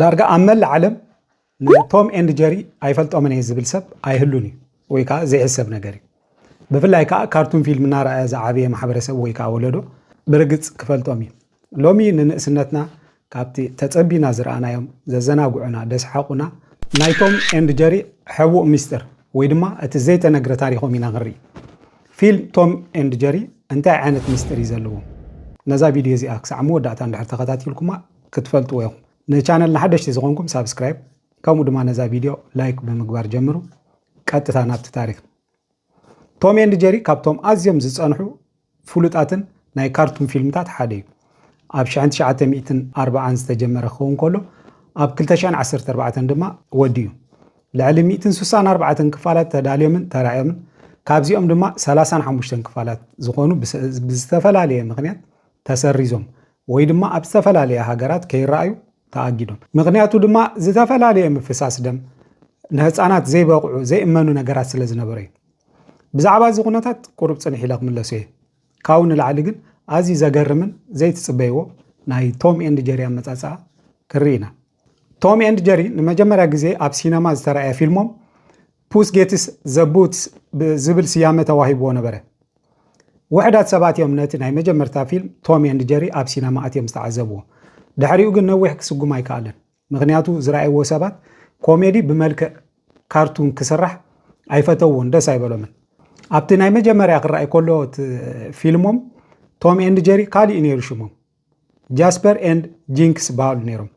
ዳርጋ ኣብ መላእ ዓለም ንቶም ኤንድ ጀሪ ኣይፈልጦምን እየ ዝብል ሰብ ኣይህሉን እዩ ወይ ከዓ ዘይሕሰብ ነገር እዩ። ብፍላይ ከዓ ካርቱን ፊልም እናረኣየ ዝዓበየ ማሕበረሰብ ወይ ከዓ ወለዶ ብርግፅ ክፈልጦም እዩ። ሎሚ ንንእስነትና ካብቲ ተፀቢና ዝረኣናዮም ዘዘናግዑና ደስሓቑና ናይ ቶም ኤንድ ጀሪ ሕቡእ ሚስጥር ወይ ድማ እቲ ዘይተነግረ ታሪኾም ኢና ክንርኢ። ፊልም ቶም ኤንድ ጀሪ እንታይ ዓይነት ሚስጥር እዩ ዘለዎ? ነዛ ቪድዮ እዚኣ ክሳዕ መወዳእታ እንድሕር ተኸታቲልኩማ ክትፈልጥዎ ኢኹም። ንቻነልና ሓደሽቲ ዝኾንኩም ሳብስክራይብ ከምኡ ድማ ነዛ ቪድዮ ላይክ ብምግባር ጀምሩ። ቀጥታ ናብቲ ታሪኽ። ቶም ኤንድ ጀሪ ካብቶም ኣዝዮም ዝጸንሑ ፍሉጣትን ናይ ካርቱን ፊልምታት ሓደ እዩ። ኣብ 1940 ዝተጀመረ ክኸውን ከሎ ኣብ 2014 ድማ ወዲኡ ልዕሊ 164 ክፋላት ተዳልዮምን ተራእዮምን ካብዚኦም ድማ 35 ክፋላት ዝኾኑ ብዝተፈላለየ ምክንያት ተሰሪዞም ወይ ድማ ኣብ ዝተፈላለየ ሃገራት ከይረኣዩ ተኣጊዶም። ምኽንያቱ ድማ ዝተፈላለየ ምፍሳስ ደም፣ ንህጻናት ዘይበቕዑ ዘይእመኑ ነገራት ስለ ዝነበረ እዩ። ብዛዕባ እዚ ኩነታት ቁሩብ ጽንሕ ኢለ ክምለሶ እየ። ካብኡ ንላዕሊ ግን ኣዝዩ ዘገርምን ዘይትጽበይዎ ናይ ቶም ኤንድ ጀሪ ኣመጻጽኣ ክንርኢ ኢና። ቶም ኤንድ ጀሪ ንመጀመርያ ግዜ ኣብ ሲነማ ዝተራእየ ፊልሞም ፑስ ጌትስ ዘ ቡትስ ዝብል ስያመ ተዋሂብዎ ነበረ። ውሕዳት ሰባት እዮም ነቲ ናይ መጀመርታ ፊልም ቶም ኤንድ ጀሪ ኣብ ሲነማ ኣትዮም ዝተዓዘብዎ። ድሕሪኡ ግን ነዊሕ ክስጉም ኣይከኣለን። ምኽንያቱ ዝረኣይዎ ሰባት ኮሜዲ ብመልክዕ ካርቱን ክስራሕ ኣይፈተውዎን፣ ደስ ኣይበሎምን። ኣብቲ ናይ መጀመርያ ክረኣይ ከሎ እቲ ፊልሞም ቶም ኤንድ ጀሪ ካልእ እዩ ነይሩ ሽሞም። ጃስፐር ኤንድ ጂንክስ በሃሉ ነይሮም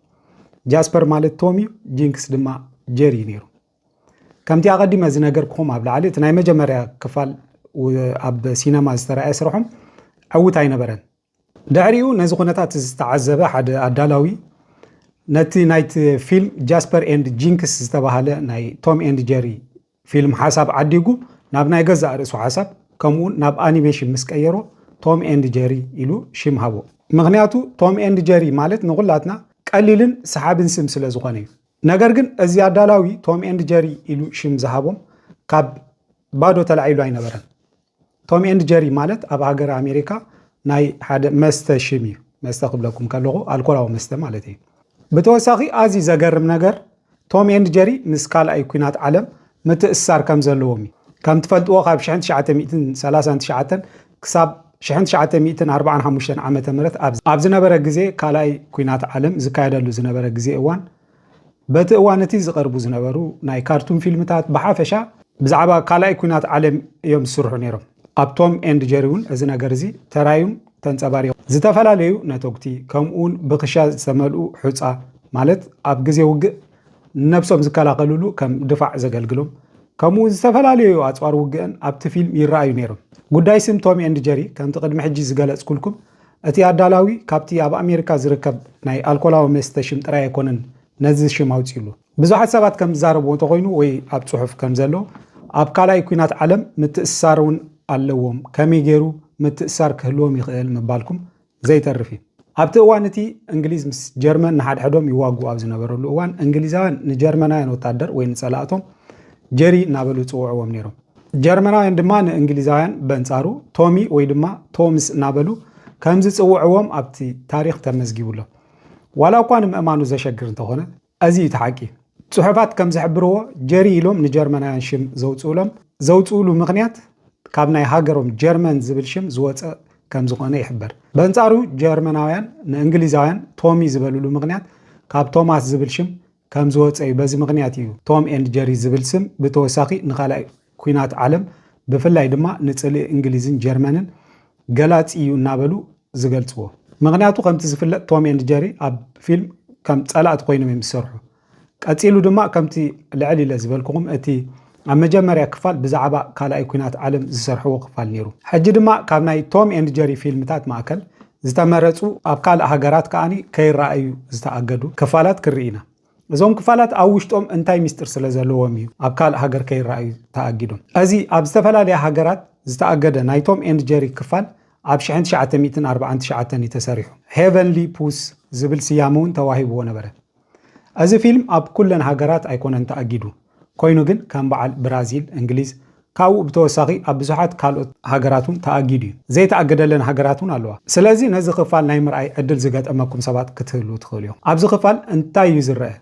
ጃስፐር ማለት ቶም እዩ ጂንክስ ድማ ጀሪ እዩ ነይሩ ከምቲ ኣቐዲመ ዝነገርኩም ኣብ ላዕሊ እቲ ናይ መጀመርያ ክፋል ኣብ ሲነማ ዝተረኣየ ስርሖም ዕውት ኣይነበረን ድሕሪኡ ነዚ ኩነታት ዝተዓዘበ ሓደ ኣዳላዊ ነቲ ናይቲ ፊልም ጃስፐር ኤንድ ጂንክስ ዝተባሃለ ናይ ቶም ኤንድ ጀሪ ፊልም ሓሳብ ዓዲጉ ናብ ናይ ገዛእ ርእሱ ሓሳብ ከምኡውን ናብ ኣኒሜሽን ምስ ቀየሮ ቶም ኤንድ ጀሪ ኢሉ ሽም ሃቦ። ምኽንያቱ ቶም ኤንድ ጀሪ ማለት ንኹላትና ቀሊልን ሰሓብን ስም ስለ ዝኾነ እዩ። ነገር ግን እዚ ኣዳላዊ ቶም ኤንድ ጀሪ ኢሉ ሽም ዝሃቦም ካብ ባዶ ተላዒሉ ኣይነበረን። ቶም ኤንድ ጀሪ ማለት ኣብ ሃገረ ኣሜሪካ ናይ ሓደ መስተ ሽም እዩ። መስተ ክብለኩም ከለኹ ኣልኮላዊ መስተ ማለት እዩ። ብተወሳኺ ኣዝዩ ዘገርም ነገር ቶም ኤንድ ጀሪ ምስ ካልኣይ ኩናት ዓለም ምትእስሳር ከም ዘለዎም እዩ። ከም ትፈልጥዎ ካብ ሽሕን ትሽዓተ ሚእትን ሰላሳን ትሽዓተን ክሳብ ሽሕን ትሽዓተ ሚእትን ኣርብዓን ሓሙሽተን ዓመተ ምህረት ኣብ ዝነበረ ግዜ ካልኣይ ኩናት ዓለም ዝካየደሉ ዝነበረ ግዜ እዋን በቲ እዋን እቲ ዝቐርቡ ዝነበሩ ናይ ካርቱን ፊልምታት ብሓፈሻ ብዛዕባ ካልኣይ ኲናት ዓለም እዮም ዝስርሑ ነይሮም። ኣብ ቶም ኤንድ ጀሪ እውን እዚ ነገር እዚ ተራእዩን ተንጸባሪቑን። ዝተፈላለዩ ነተጕቲ፣ ከምኡውን ብኽሻ ዝተመልኡ ሑጻ፣ ማለት ኣብ ግዜ ውግእ ንነብሶም ዝከላኸልሉ ከም ድፋዕ ዘገልግሎም፣ ከምኡውን ዝተፈላለዩ ኣጽዋር ውግእን ኣብቲ ፊልም ይረኣዩ ነይሮም። ጉዳይ ስም ቶም ኤንድ ጀሪ፣ ከምቲ ቅድሚ ሕጂ ዝገለጽኩልኩም፣ እቲ ኣዳላዊ ካብቲ ኣብ ኣሜሪካ ዝርከብ ናይ ኣልኮላዊ መስተ ሽም ጥራይ ኣይኮነን ነዚ ሽም ኣውጺኡሉ። ብዙሓት ሰባት ከም ዝዛረብዎ እንተኾይኑ ወይ ኣብ ጽሑፍ ከም ዘሎ ኣብ ካልኣይ ኩናት ዓለም ምትእስሳር እውን ኣለዎም ከመይ ገይሩ ምትእስሳር ክህልዎም ይኽእል ምባልኩም ዘይተርፍ እዩ። ኣብቲ እዋን እቲ እንግሊዝ ምስ ጀርመን ንሓድሕዶም ይዋግኡ ኣብ ዝነበረሉ እዋን እንግሊዛውያን ንጀርመናውያን ወታደር ወይ ንጸላእቶም ጀሪ እናበሉ ይጽውዕዎም ነይሮም። ጀርመናውያን ድማ ንእንግሊዛውያን በንጻሩ ቶሚ ወይ ድማ ቶምስ እናበሉ ከም ዝጽውዕዎም ኣብቲ ታሪኽ ተመዝጊቡ ኣሎ ዋላ እኳ ንምእማኑ ዘሸግር እንተኾነ እዚ እዩ እቲ ሓቂ ጽሑፋት ከም ዝሕብርዎ ጀሪ ኢሎም ንጀርመናውያን ሽም ዘውጽኡሎም ዘውጽኡሉ ምኽንያት ካብ ናይ ሃገሮም ጀርመን ዝብል ሽም ዝወፀ ከም ዝኾነ ይሕበር በንጻሩ ጀርመናውያን ንእንግሊዛውያን ቶሚ ዝበልሉ ምኽንያት ካብ ቶማስ ዝብል ሽም ከም ዝወጸ እዩ። በዚ ምኽንያት እዩ ቶም ኤንድ ጀሪ ዝብል ስም ብተወሳኺ ንካልኣይ ኲናት ዓለም ብፍላይ ድማ ንጽልኢ እንግሊዝን ጀርመንን ገላጺ እዩ እናበሉ ዝገልጽዎ። ምኽንያቱ ከምቲ ዝፍለጥ ቶም ኤንድ ጀሪ ኣብ ፊልም ከም ጸላእቲ ኮይኖም እዮም ዝሰርሑ። ቀጺሉ ድማ ከምቲ ልዕል ኢለ ዝበልኩኹም እቲ ኣብ መጀመርያ ክፋል ብዛዕባ ካልኣይ ኩናት ዓለም ዝሰርሕዎ ክፋል ነይሩ። ሕጂ ድማ ካብ ናይ ቶም ኤንድ ጀሪ ፊልምታት ማእከል ዝተመረጹ ኣብ ካልእ ሃገራት ከኣ ከይረኣዩ ዝተኣገዱ ክፋላት ክንርኢ ኢና። እዞም ክፋላት ኣብ ውሽጦም እንታይ ምስጢር ስለ ዘለዎም እዩ ኣብ ካልእ ሃገር ከይረኣዩ ተኣጊዶም። እዚ ኣብ ዝተፈላለያ ሃገራት ዝተኣገደ ናይ ቶም ኤንድ ጀሪ ክፋል ኣብ ሽሕን ትሽዓተ ሚእትን ኣርብዓን ትሽዓተን እዩ ተሰሪሑ። ሄቨንሊ ፑስ ዝብል ስያመ እውን ተዋሂብዎ ነበረ። ኣዚ ፊልም ኣብ ኩለን ሃገራት ኣይኮነን ተኣጊዱ ኮይኑ ግን ከም በዓል ብራዚል እንግሊዝ ካውኡ ብተወሳኺ ኣብ ብዙሓት ካልኦት ሃገራት ውን ተኣጊዱ ዩ ዘይተኣገደለን ሃገራት ውን ኣለዋ ስለዚ ነዚ ክፋል ናይ ምርኣይ ዕድል ዝገጠመኩም ሰባት ክትህልዉ ትኽእሉ ኢኹም ኣብዚ ክፋል እንታይ ዩ ዝረኣ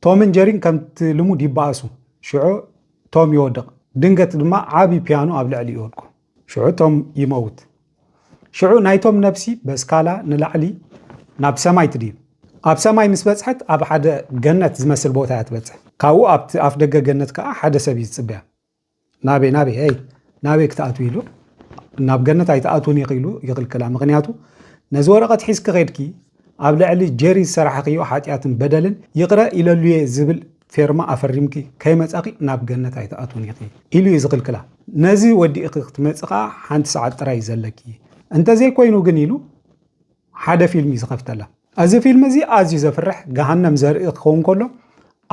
ቶምን ጀሪን ከምቲ ልሙድ ይበኣሱ ሽዑ ቶም ይወድቕ ድንገት ድማ ዓቢ ፒያኖ ኣብ ልዕሊኡ ይወድቁ ሽዑ እቶም ይመውት ሽዑ ናይቶም ነብሲ በስካላ ንላዕሊ ናብ ሰማይ ትድይብ ኣብ ሰማይ ምስ በጽሐት ኣብ ሓደ ገነት ዝመስል ቦታ እያ ትበጽሕ ካብኡ ኣብቲ ኣፍ ደገ ገነት ከኣ ሓደ ሰብ እዩ ዝጽበያ ናበይ ናበይ ኣይ ናበይ ክትኣትው ኢሉ ናብ ገነት ኣይትኣትውን ኢኺ ኢሉ ይኽልክላ ምክንያቱ ነዚ ወረቐት ሒዝኪ ኸድኪ ኣብ ልዕሊ ጀሪ ዝሰራሕኽዮ ሓጢኣትን በደልን ይቕረ ኢለሉየ ዝብል ፌርማ ኣፈሪምኪ ከይመጻኺ ናብ ገነት ኣይትኣትውን ኢኺ ኢሉ እዩ ዝኽልክላ። ነዚ ወዲእኺ ክትመጺ ከኣ ሓንቲ ሰዓት ጥራይ እዩ ዘለኪ፣ እንተዘይኮይኑ ግን ኢሉ ሓደ ፊልም እዩ ዝኸፍተላ። እዚ ፊልም እዚ ኣዝዩ ዘፍርሕ ገሃነም ዘርኢ ክኸውን ከሎ፣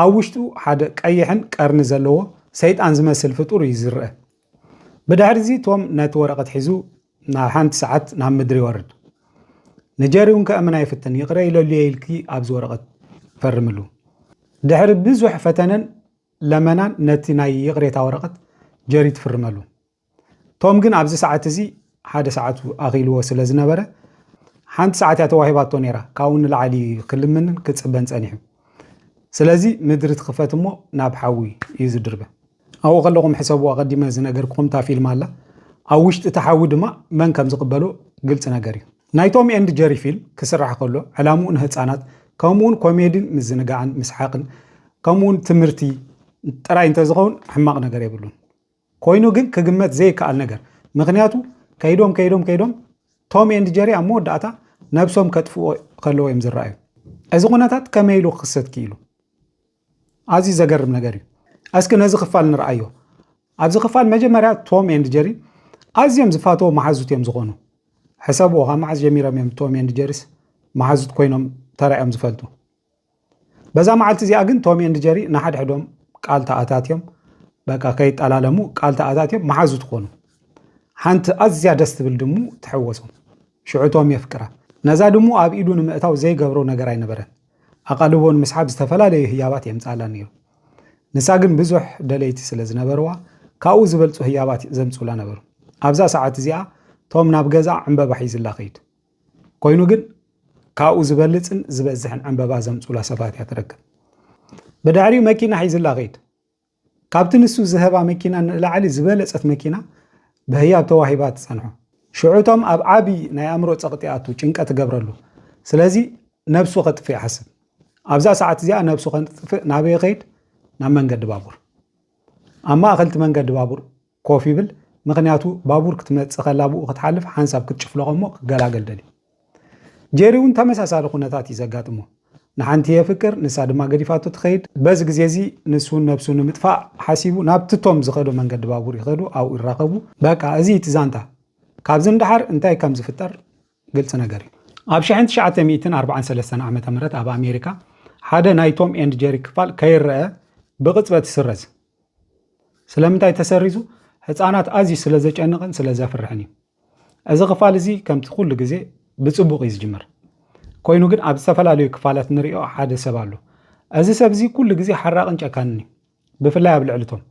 ኣብ ውሽጡ ሓደ ቀይሕን ቀርኒ ዘለዎ ሰይጣን ዝመስል ፍጡር እዩ ዝርኣ። ብድሕሪ'ዚ ቶም ነቲ ወረቐት ሒዙ ናብ ሓንቲ ሰዓት ናብ ምድሪ ይወርድ። ንጀሪ እውን ከእምን ኣይፍትን፣ ይቕረ ኢለሉ እየ ኢልኪ ኣብዚ ወረቐት ፈርምሉ። ድሕሪ ብዙሕ ፈተነን ለመናን ነቲ ናይ ይቕሬታ ወረቐት ጀሪ ትፍርመሉ። ቶም ግን ኣብዚ ሰዓት እዚ ሓደ ሰዓቱ ኣኺልዎ ስለ ዝነበረ ሓንቲ ሰዓት እያ ተዋሂባቶ ነይራ፣ ካብኡ ንላዕሊ እዩ ክልምንን ክጽበን ጸኒሑ። ስለዚ ምድሪ ትኽፈት እሞ ናብ ሓዊ እዩ ዝድርበ። ኣብኡ ከለኹም ሕሰቡ ኣቐዲመ ዝነገርኩኹም እታ ፊልም ኣላ ኣብ ውሽጢ እቲ ሓዊ ድማ መን ከም ዝቕበሎ ግልጺ ነገር እዩ። ናይ ቶም ኤንድ ጀሪ ፊልም ክስራሕ ከሎ ዕላምኡ ንህጻናት ከምኡውን ኮሜዲን ምዝንጋዕን ምስሓቕን ከምኡውን ትምህርቲ ጥራይ እንተዝኸውን ሕማቕ ነገር የብሉን። ኮይኑ ግን ክግመት ዘይከኣል ነገር ምክንያቱ ከይዶም ከይዶም ከይዶም ቶም ኤንድ ጀሪ ኣብ መወዳእታ ነብሶም ከጥፍኡ ከለዎ እዮም ዝረኣዩ። እዚ ኩነታት ከመይ ኢሉ ክኽሰት ክኢሉ? ኣዝዩ ዘገርም ነገር እዩ። እስኪ ነዚ ክፋል ንርኣዮ። ኣብዚ ክፋል መጀመርያ ቶም ኤንድ ጀሪ ኣዝዮም ዝፋተዎ መሓዙት እዮም ዝኾኑ። ሕሰብዎ ካብ መዓዝ ጀሚሮም እዮም ቶም ኤንድ ጀሪስ መሓዙት ኮይኖም ተራእዮም ዝፈልጡ። በዛ መዓልቲ እዚኣ ግን ቶም ኤንድ ጀሪ ንሓድሕዶም ቃል ተኣታትዮም በቃ ከይጠላለሙ ቃል ተኣታትዮም መሓዙት ኮኑ። ሓንቲ ኣዝያ ደስ ትብል ድሙ ትሕወሶም። ሽዑ ቶም የፍቅራ። ነዛ ድሙ ኣብ ኢዱ ንምእታው ዘይገብሮ ነገር ኣይነበረን። ኣቓልቦ ንምስሓብ ዝተፈላለዩ ህያባት የምጽኣላ ነይሩ። ንሳ ግን ብዙሕ ደለይቲ ስለ ዝነበርዋ፣ ካብኡ ዝበልጹ ህያባት ዘምጽኡላ ነበሩ። ኣብዛ ሰዓት እዚኣ ቶም ናብ ገዝኣ ዕምበባ ሒዙላ ከይዱ። ኮይኑ ግን ካብኡ ዝበልጽን ዝበዝሕን ዕምበባ ዘምጽኡላ ሰባት እያ ትረክብ። ብድሕሪኡ መኪና ሒዙላ ከይዱ። ካብቲ ንሱ ዝሀባ መኪና ንላዕሊ ዝበለጸት መኪና ብህያብ ተዋሂባ ትጸንሖ። ሽዑ ቶም ኣብ ዓቢ ናይ ኣእምሮ ጸቕጢ ይኣቱ፣ ጭንቀት ይገብረሉ። ስለዚ ነብሱ ከጥፍእ ይሓስብ። ኣብዛ ሰዓት እዚኣ ነብሱ ከጥፍእ ናበይ ይኸይድ? ናብ መንገዲ ባቡር። ኣብ ማእከል'ቲ መንገዲ ባቡር ኮፍ ይብል ምኽንያቱ ባቡር ክትመጽእ ከላ ብኡ ክትሓልፍ ሓንሳብ ክትጭፍለቖ እሞ ክገላገል ደልዩ። ጄሪ እውን ተመሳሳሊ ኩነታት እዩ ዘጋጥሞ። ንሓንቲ የፍቅር ንሳ ድማ ገዲፋቶ ትኸይድ። በዚ ግዜ እዚ ንሱ ነብሱ ንምጥፋእ ሓሲቡ ናብቲ ቶም ዝኸዶ መንገዲ ባቡር ይኸዱ ኣብኡ ይራኸቡ። በቃ እዚ እቲ ዛንታ። ካብዚ ንደሓር እንታይ ከም ዝፍጠር ግልፂ ነገር እዩ። ኣብ ሽሕን ትሽዓተ ሚእትን ኣርብዓን ሰለስተን ዓመተ ምህረት ኣብ ኣሜሪካ ሓደ ናይ ቶም ኤንድ ጀሪ ክፋል ከይረኣ ብቕፅበት ይስረዝ። ስለምንታይ ተሰሪዙ? ህፃናት ኣዝዩ ስለ ዘጨንቕን ስለ ዘፍርሕን እዩ። እዚ ክፋል እዚ ከምቲ ኩሉ ግዜ ብፅቡቕ እዩ ዝጅምር። ኮይኑ ግን ኣብ ዝተፈላለዩ ክፋላት ንሪኦ ሓደ ሰብ ኣሎ። እዚ ሰብ እዚ ኩሉ ግዜ ሓራቕን ጨካንን እዩ። ብፍላይ ኣብ ልዕሊ ቶም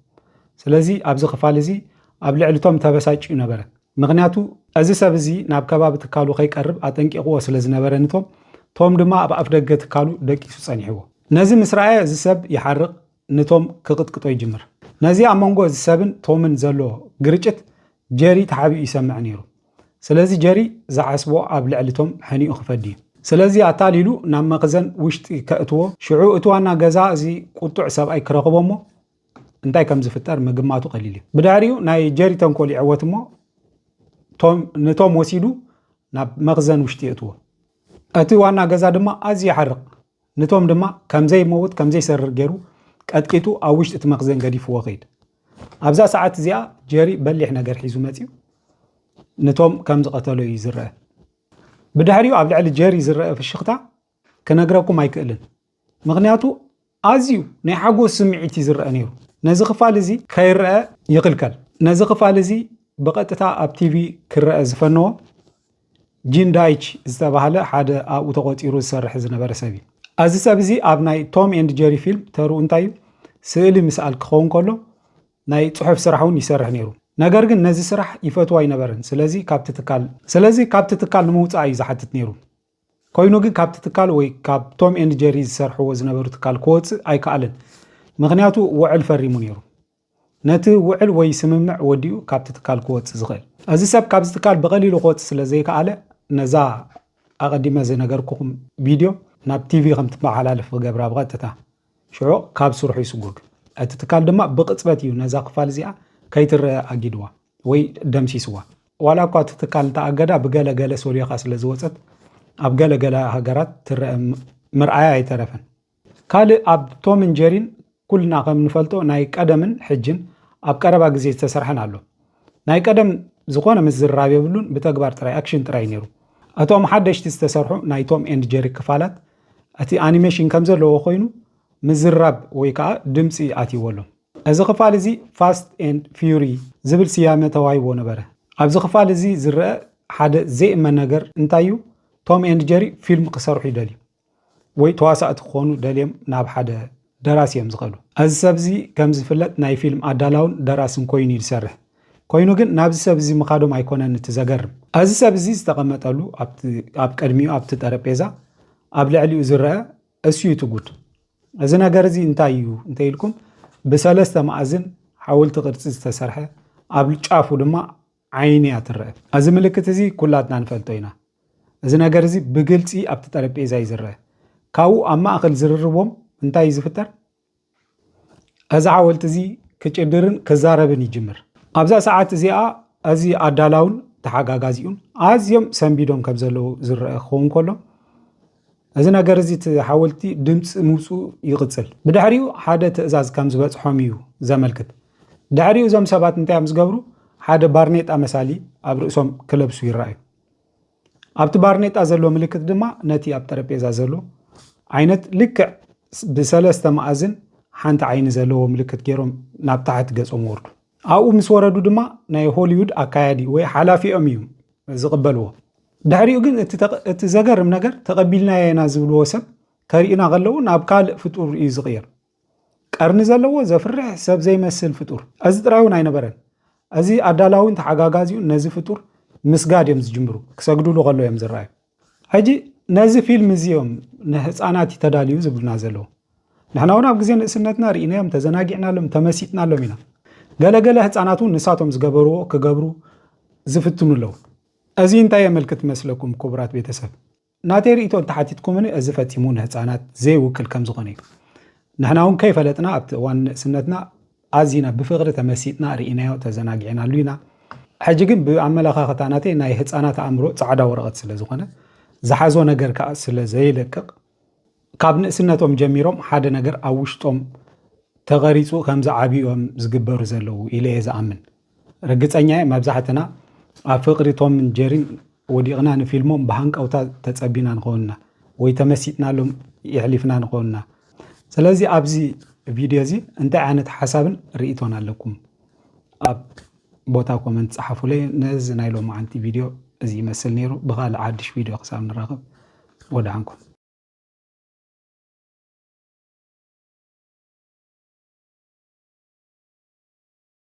ስለዚ ኣብዚ ክፋል እዚ ኣብ ልዕሊ ቶም ተበሳጭዩ ነበረ ምኽንያቱ እዚ ሰብ እዚ ናብ ከባቢ ትካሉ ከይቀርብ ኣጠንቂቕዎ ስለ ዝነበረ ንቶም ቶም ድማ ኣብ ኣፍደገ ትካሉ ደቂሱ ጸኒሕዎ ነዚ ምስ ረኣየ እዚ ሰብ ይሓርቕ ንቶም ክቕጥቅጦ ይጅምር ነዚ ኣብ መንጎ እዚ ሰብን ቶምን ዘሎ ግርጭት ጀሪ ተሓቢኡ ይሰምዕ ነይሩ ስለዚ ጀሪ ዝዓስቦ ኣብ ልዕሊ ቶም ሕኒኡ ክፈድዩ ስለዚ ኣታሊሉ ናብ መኽዘን ውሽጢ ከእትዎ ሽዑ እቲ ዋና ገዛ እዚ ቁጡዕ ሰብኣይ ክረኽቦ እሞ እንታይ ከም ዝፍጠር ምግማቱ ቀሊል እዩ ብድሕሪኡ ናይ ጀሪ ተንኮል ይዕወት እሞ ቶም ንቶም ወሲዱ ናብ መኽዘን ውሽጢ የእትዎ እቲ ዋና ገዛ ድማ ኣዝዩ ይሓርቕ ንቶም ድማ ከም ዘይመውት ከም ዘይሰርር ገይሩ ቀጥቂጡ ኣብ ውሽጢ እቲ መኽዘን ገዲፍዎ ከይድ። ኣብዛ ሰዓት እዚኣ ጀሪ በሊሕ ነገር ሒዙ መጺኡ ንቶም ከም ዝቐተሎ እዩ ዝረአ። ብድሕሪኡ ኣብ ልዕሊ ጀሪ ዝረአ ፍሽኽታ ክነግረኩም ኣይክእልን፣ ምኽንያቱ ኣዝዩ ናይ ሓጎስ ስምዒት እዩ ዝረአ ነይሩ። ነዚ ክፋል እዚ ከይረኣ ይኽልከል። ነዚ ክፋል እዚ ብቐጥታ ኣብ ቲቪ ክረኣ ዝፈነዎ ጂን ዳይች ዝተባህለ ሓደ ኣብኡ ተቖጺሩ ዝሰርሕ ዝነበረ ሰብ እዩ። ኣዚ ሰብ እዚ ኣብ ናይ ቶም ኤንድ ጀሪ ፊልም ተርኡ እንታይ እዩ ስእሊ ምስኣል ክኸውን ከሎ ናይ ጽሑፍ ስራሕ እውን ይሰርሕ ነይሩ ነገር ግን ነዚ ስራሕ ይፈትዎ ኣይነበረን ስለዚ ካብቲ ትካል ስለዚ ካብቲ ትካል ንምውጻእ እዩ ዝሓትት ነይሩ ኮይኑ ግን ካብቲ ትካል ወይ ካብ ቶም ኤንድ ጀሪ ዝሰርሕዎ ዝነበሩ ትካል ክወጽእ ኣይከኣልን ምክንያቱ ውዕል ፈሪሙ ነይሩ ነቲ ውዕል ወይ ስምምዕ ወዲኡ ካብቲ ትካል ክወጽእ ዝኽእል። እዚ ሰብ ካብዚ ትካል ብቐሊሉ ክወጽእ ስለ ዘይከኣለ ነዛ ኣቐዲመ ዝነገርኩኹም ቪድዮ ናብ ቲቪ ከም ትመሓላለፍ ክገብራ ብቐጥታ። ሽዑ ካብ ስርሑ ይስጎግ። እቲ ትካል ድማ ብቕጽበት እዩ ነዛ ክፋል እዚኣ ከይትረኣ ኣጊድዋ ወይ ደምሲስዋ። ዋላ እኳ እቲ ትካል እንተኣገዳ ብገለ ገለ ሰልዮኻ ስለ ዝወጸት ኣብ ገለ ገለ ሃገራት ትረኣ ምርኣያ ኣይተረፈን። ካልእ ኣብ ቶምን ጀሪን ኩልና ከም ንፈልጦ ናይ ቀደምን ሕጅን ኣብ ቀረባ ግዜ ዝተሰርሐን ኣሎ። ናይ ቀደም ዝኾነ ምዝርራብ የብሉን ብተግባር ጥራይ ኣክሽን ጥራይ ኔሩ። እቶም ሓደሽቲ ዝተሰርሑ ናይ ቶም ኤንድ ጀሪ ክፋላት እቲ ኣኒሜሽን ከም ዘለዎ ኮይኑ ምዝርራብ ወይ ከኣ ድምጺ ኣትይዎ ኣሎ። እዚ ክፋል እዚ ፋስት ኤንድ ፍዩሪ ዝብል ስያመ ተዋሂብዎ ነበረ። ኣብዚ ክፋል እዚ ዝረኣ ሓደ ዘይእመን ነገር እንታይ እዩ ቶም ኤንድ ጀሪ ፊልም ክሰርሑ ይደልዩ። ወይ ተዋሳእቲ ክኾኑ ደልዮም ናብ ሓደ ደራሲ እዮም ዝኸዱ። እዚ ሰብ እዚ ከም ዝፍለጥ ናይ ፊልም ኣዳላውን ደራስን ኮይኑ እዩ ዝሰርሕ። ኮይኑ ግን ናብዚ ሰብ እዚ ምኻዶም ኣይኮነን እቲ ዘገርም። እዚ ሰብ እዚ ዝተቐመጠሉ ኣብቲ ኣብ ቅድሚኡ ኣብቲ ጠረጴዛ ኣብ ልዕሊኡ ዝረኣ እሱ እዩ እቲ ጉድ። እዚ ነገር እዚ እንታይ እዩ እንተኢልኩም ብሰለስተ መኣዝን ሓወልቲ ቅርጺ ዝተሰርሐ ኣብ ጫፉ ድማ ዓይኒ እያ ትረኣ። እዚ ምልክት እዚ ኩላትና ንፈልጦ ኢና። እዚ ነገር እዚ ብግልጺ ኣብቲ ጠረጴዛ እዩ ዝረኣ። ካብኡ ኣብ ማእከል ዝርርቦም እንታይ እዩ ዝፍጠር? እዚ ሓወልቲ እዚ ክጭድርን ክዛረብን ይጅምር። ኣብዛ ሰዓት እዚኣ እዚ ኣዳላውን ተሓጋጋዚኡን ኣዝዮም ሰንቢዶም ከም ዘለዉ ዝረኣ ክኸውን ከሎ፣ እዚ ነገር እዚ እቲ ሓወልቲ ድምጺ ምውጽኡ ይቕጽል። ብድሕሪኡ ሓደ ትእዛዝ ከም ዝበጽሖም እዩ ዘመልክት። ድሕሪኡ እዞም ሰባት እንታይ እዮም ዝገብሩ? ሓደ ባርኔጣ መሳሊ ኣብ ርእሶም ክለብሱ ይረኣዩ። ኣብቲ ባርኔጣ ዘሎ ምልክት ድማ ነቲ ኣብ ጠረጴዛ ዘሎ ዓይነት ልክዕ ብሰለስተ መኣዝን ሓንቲ ዓይኒ ዘለዎ ምልክት ገይሮም ናብ ታሕቲ ገጾም ወርዱ። ኣብኡ ምስ ወረዱ ድማ ናይ ሆሊውድ ኣካያዲ ወይ ሓላፊኦም እዩ ዝቕበልዎ። ድሕሪኡ ግን እቲ ዘገርም ነገር ተቐቢልናዮ ኢና ዝብልዎ ሰብ ከርእዩና ከለዉ ናብ ካልእ ፍጡር እዩ ዝቕየር። ቀርኒ ዘለዎ ዘፍርሕ ሰብ ዘይመስል ፍጡር። እዚ ጥራይ እውን ኣይነበረን። እዚ ኣዳላዊን ተሓጋጋዚኡን ነዚ ፍጡር ምስጋድ እዮም ዝጅምሩ፣ ክሰግድሉ ከለዉ እዮም ዝረኣዩ። ሕጂ ነዚ ፊልም እዚ እዮም ንህፃናት እዩ ተዳልዩ ዝብሉና ዘለዉ ንሕና እውን ኣብ ግዜ ንእስነትና ርኢናዮም ተዘናጊዕናሎም ተመሲጥናሎም ኢና ገለገለ ህፃናት እውን ንሳቶም ዝገበርዎ ክገብሩ ዝፍትኑ ኣለዉ እዚ እንታይ የመልክት መስለኩም ክቡራት ቤተሰብ ናተይ ርእቶ እንተሓቲትኩምኒ እዚ ፈጺሙ ንህፃናት ዘይውክል ከም ዝኾነ እዩ ንሕና እውን ከይፈለጥና ኣብቲ እዋን ንእስነትና ኣዚና ብፍቕሪ ተመሲጥና ርኢናዮ ተዘናጊዕናሉ ኢና። ሕጂ ግን ብኣመለኻኽታ ናተይ ናይ ህጻናት ኣእምሮ ጻዕዳ ወረቐት ስለ ዝኾነ፣ ዝሓዞ ነገር ከኣ ስለ ዘይለቅቕ፣ ካብ ንእስነቶም ጀሚሮም ሓደ ነገር ኣብ ውሽጦም ተቐሪጹ ከም ዝዓብዩ እዮም ዝግበሩ ዘለዉ ኢለ እየ ዝኣምን። ርግጸኛየ መብዛሕትና ኣብ ፍቅሪ ቶምን ጀሪን ወዲቅና ንፊልሞም ብሃንቀውታ ተጸቢና ንከውን እና ወይ ተመሲጥናሎም የሕሊፍና ንከውን እና ስለዚ ኣብዚ ቪድዮ እዚ እንታይ ዓይነት ሓሳብን ርኢቶን ኣለኩም ኣብ ቦታ ኮመንት ጸሓፉለይ ነዚ ናይ ሎማዓንቲ ቪድዮ እዚ ይመስል ነይሩ ብካልእ ሓድሽ ቪድዮ ክሳብ ንራኸብ ወድዓንኩም